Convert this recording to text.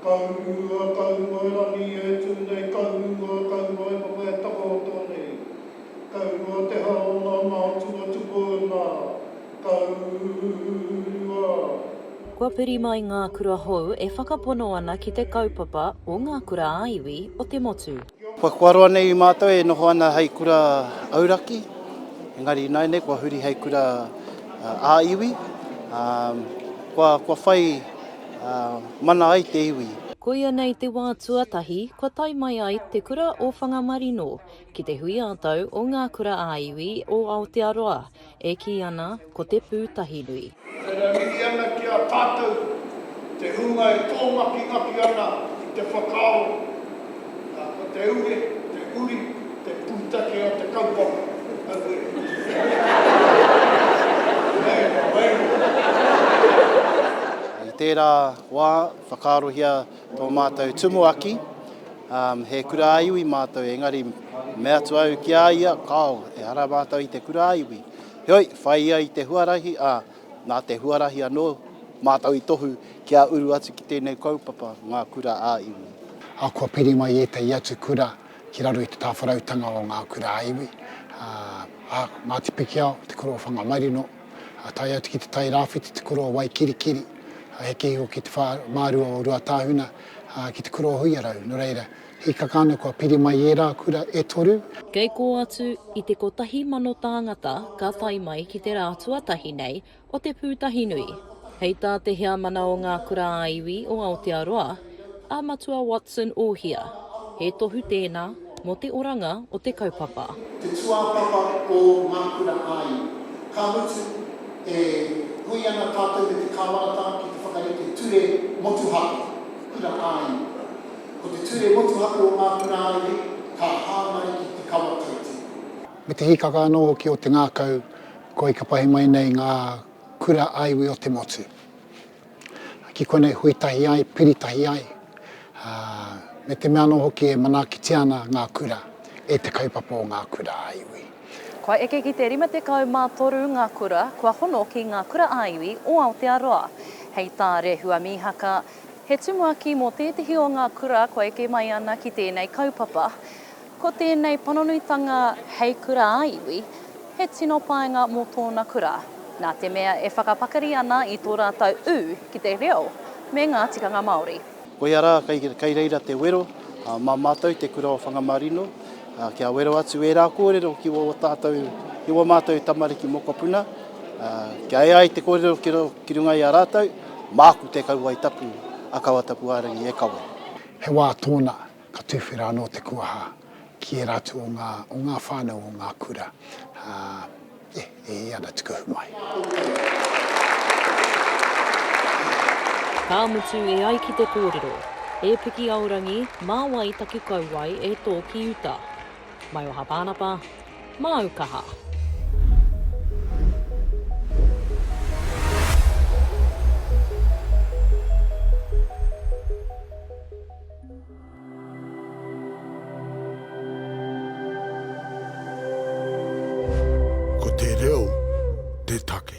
Kaurua, kauruae rangi e tū nei, kaurua, kauruae noa e takaoto nei, kaurua te hā o ngā mātua tupo nā, kaurua. Kua piri mai ngā kura hou e whakapono ana ki te kaupapa o ngā kura-ā-iwi o te motu. Kua kuaroa nei i mātou e noho ana hei kura auraki, engari ināianei kua huri hei kura ā-iwi, ā, kua, kua whai mana ai te iwi. Koia nei te wā tuatahi kua tae mai ai Te Kura o Whangamarino ki te hui ā-tau o ngā kura ā-iwi o Aotearoa. E kī ana, ko te Pūtahinui. E mihi ana ki a tātou te hunga e tōngakingaki ana i te whakaaro, ā, ko te ure, te uri, te pūtake o te kaupapa. Aue! Hei wairua! I tērā wā, whakaarohia. Tō mātou tumuaki, um, he kurāiwi mātou, engari me atu au ki a ia, kāo, ehara mātou i te kurāiwi. Heoi, whai ia i te huarahi, ā, nā te huarahi anō, mātou i tohu kia uru atu ki tēnei kaupapa, ngā kura ā-iwi. Ā, kua piri mai ētahi atu kura ki raro i te tāwharautanga o ngā kurāiwi, ā, ā, Ngāti Pikiao, Te Kura o Whangamarino, ā, tae atu ki te Tai Rāwhiti, te Kura o Waikirikiri, ā, heke iho ki te whā, mā rua o Ruatāhuna, ā, ki te Kura o Huiarau. Nō reira, hīkaka ana kua piri mai ērā kura e toru. Kei kō atu i te kotahi mano tāngata ka tae mai ki te rā tuatahi nei o te pūtahinui. Hei tā te Heamana o Ngā Kura-ā-Iwi o Aotearoa, A Matua Watson Ohia, He tohu tēnā mō te oranga o te kaupapa. Te tūāpapa o Ngā Kura ā-Iwi. Ka mutu, e hui ana tātou me te Kāwanatanga ki te whakarite Ture Motuhake Kura ā-Iwi. Ko te Ture Motuhake o Ngā Kura ā-Iwi ka hāngai ki Te Kawa Kaititu. Me te hīkaka anō hoki o te ngākau kua ika pahi mai nei ngā kura ā-iwi o te motu. Ki konei hui tahi ai, piri tahi ai, ā, me te mea anō hoki e manaakitia ana ngā kura e te kaupapa o ngā kura ā iwi. Kua eke ki te 53 ngā kura kua hono ki ngā kura ā iwi o Aotearoa. Hei tā Rehua Mīhaka, he tumuaki mō tētehi o ngā kura kua eke mai ana ki tēnei kaupapa, Ko tēnei panonuitanga hei kura ā-iwi, he tino painga mō tōna kura, nā te mea e whakapakari ana i tō rātou ū ki te reo me ngā tikanga Māori. Koia rā, kei reira te wero mā mātou Te Kura o Whangamarino, kia wero atu ērā kōrero ki wō tātou, ki wō mātou tamariki mokopuna, kia ea ai te kōrero ki runga i a rātou, māku te kauae tapu, a Kawatapuārangī e kawe. He wā tōna, Ka tuwhera anō te kuaha ki ērā atu o ngā, o ngā whānau o ngā kura, ā, e, e hē ana te kuhu mai. Ka mutu e ai ki te kōrero, E Piki Aorangi, mā wai taku kauae e tō ki uta? Maioha Pānapa, Māu kaha! Ko te reo te take.